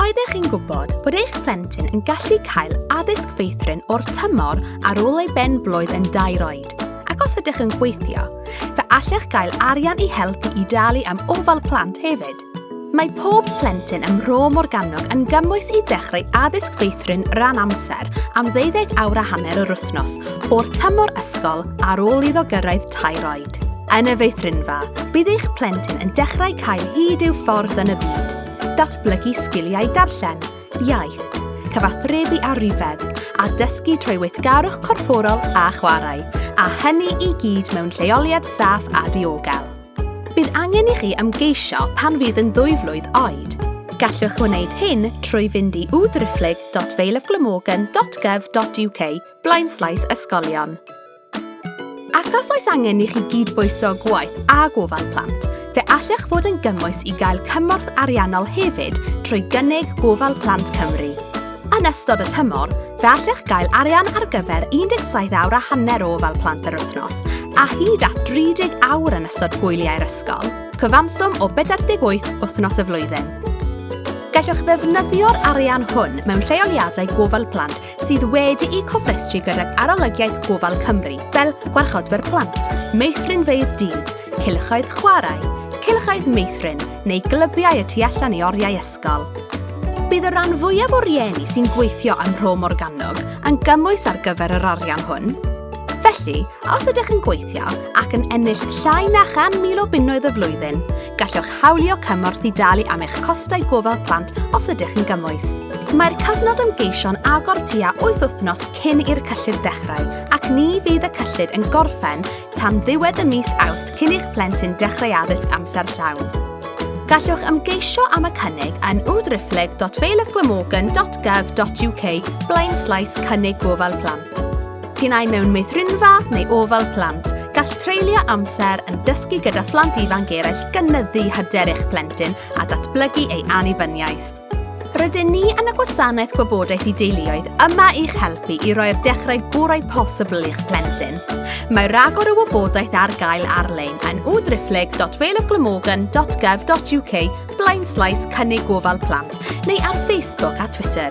Oeddech chi'n gwybod bod eich plentyn yn gallu cael addysg feithrin o'r tymor ar ôl ei ben blwydd yn dair oed? Ac os ydych yn gweithio, fe allech gael arian i helpu i dalu am ofal plant hefyd. Mae pob plentyn ym Mro Morgannwg yn gymwys i ddechrau addysg feithrin ran amser am ddeuddeg awr a hanner yr wythnos o'r tymor ysgol ar ôl iddo gyrraedd tair oed. byd. Yn y feithrinfa, bydd eich plentyn yn dechrau cael hyd i'w ffordd yn y byd, datblygu sgiliau darllen, iaith, cyfathrebu a rhifedd, a dysgu trwy weithgarwch corfforol a chwarae, a hynny i gyd mewn lleoliad saff a diogel. Bydd angen i chi ymgeisio pan fydd yn ddwy flwydd oed. Gallwch wneud hyn trwy fynd i www.valeofglamorgan.gov.uk blaenslaes ysgolion. Ac os oes angen i chi gydbwyso gwaith a gofal plant, fe allech fod yn gymwys i gael cymorth ariannol hefyd trwy gynnig Gofal Plant Cymru. Yn ystod y tymor, fe allech gael arian ar gyfer 17 awr a hanner o ofal plant yr wythnos a hyd at 30 awr yn ystod hwyliau'r ysgol, cyfanswm o 48 wythnos y flwyddyn. Gallwch ddefnyddio'r arian hwn mewn lleoliadau gofal plant sydd wedi'u cofrestru gydag Arolygiaeth Gofal Cymru, fel gwarchodwyr plant, meithrinfeydd dydd, cylchoedd chwarae, cylchoedd meithrin neu glybiau y tu allan i oriau ysgol. Bydd y rhan fwyaf o rieni sy'n gweithio ym Mhro Morgannwg yn gymwys ar gyfer yr arian hwn. Felly, Os ydych yn gweithio ac yn ennill llai na 100,000 o bunnoedd y flwyddyn, gallwch hawlio cymorth i dalu am eich costau gofal plant os ydych yn gymwys. Mae'r cyfnod ymgeisio'n agor tua 8 wythnos cyn i'r cyllid ddechrau ac ni fydd y cyllid yn gorffen tan ddiwedd y mis Awst cyn i'ch plentyn dechrau addysg amser llawn. Gallwch ymgeisio am y cynnig yn www.feilofglamorgan.gov.uk blaen slaes cynnig gofal plant. Pinnau mewn meithrinfa neu ofal plant, gall treulio amser yn dysgu gyda phlant ifanc eraill gynyddu hyder eich plentyn a datblygu ei annibyniaeth. Rydyn ni yn y gwasanaeth gwybodaeth i deuluoedd yma i'ch helpu i roi'r dechrau gorau posibl i'ch plentyn. Mae rhagor o wybodaeth ar gael ar-lein yn www.valeofglamorgan.gov.uk blaen slaes cynnig gofal plant neu ar Facebook a Twitter.